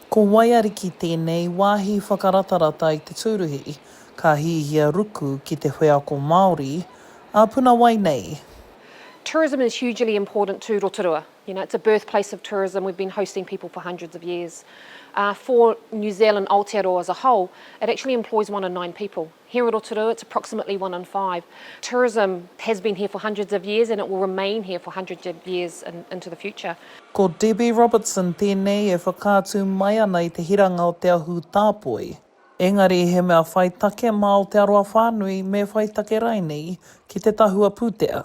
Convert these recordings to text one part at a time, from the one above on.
Ko Waiariki tēnei wāhi whakaratarata i te tūruhi, ka hihia ruku ki te wheako Māori ā puna wai nei. Tourism is hugely important to Rotorua, you know, it's a birth place of tourism, we've been hosting people for hundreds of years. For New Zealand, Aotearoa as a whole, it actually employs one in nine people. Here o Rotorua, it's approximately one in five. Tourism has been here for hundreds of years and it will remain here for hundreds of years into the future. Ko Debbie Robertson tēnei e whakaatu mai ana i te hiranga o Te Ahu Tāpoi. Engari he mea whai take mā Aotearoa whānui me whai take rainei ki te tahua pūtea.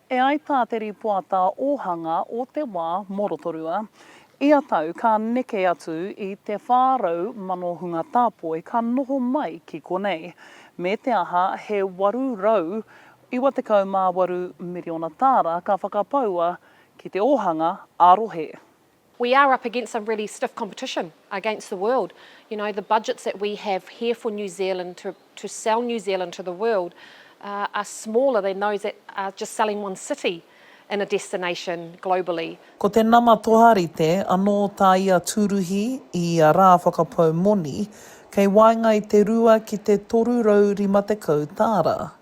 E ai tā te rīpoata ōhanga o te wā mō Rotorua, ia tau ka neke atu i te 400,000 hunga tāpoi ka noho mai ki konei, me te aha he 898 miriona tāra ka whakapaua ki te ōhanga ā-rohe. We are up against some really stiff competition against the world. You know, the budgets that we have here for New Zealand to, to sell New Zealand to the world uh, are smaller than those that are just selling one city in a destination globally. Ko te nama toharite anō tā ia tūruhi i ia rā whakapau moni, kei waenga i te rua ki te 350 tāra.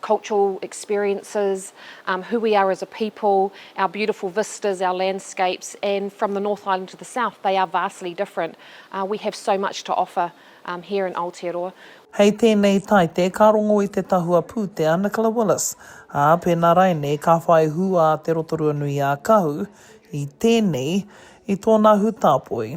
cultural experiences, um, who we are as a people, our beautiful vistas, our landscapes, and from the North Island to the South, they are vastly different. Uh, we have so much to offer um, here in Aotearoa. Hei tēnei taite ka rongo i te tahua pūtea Nicola Willis, ā, pēnā rainei ka whai hū a Te Rotorua-nui-ā-Kahu i tēnei i tōna hūtāpoi.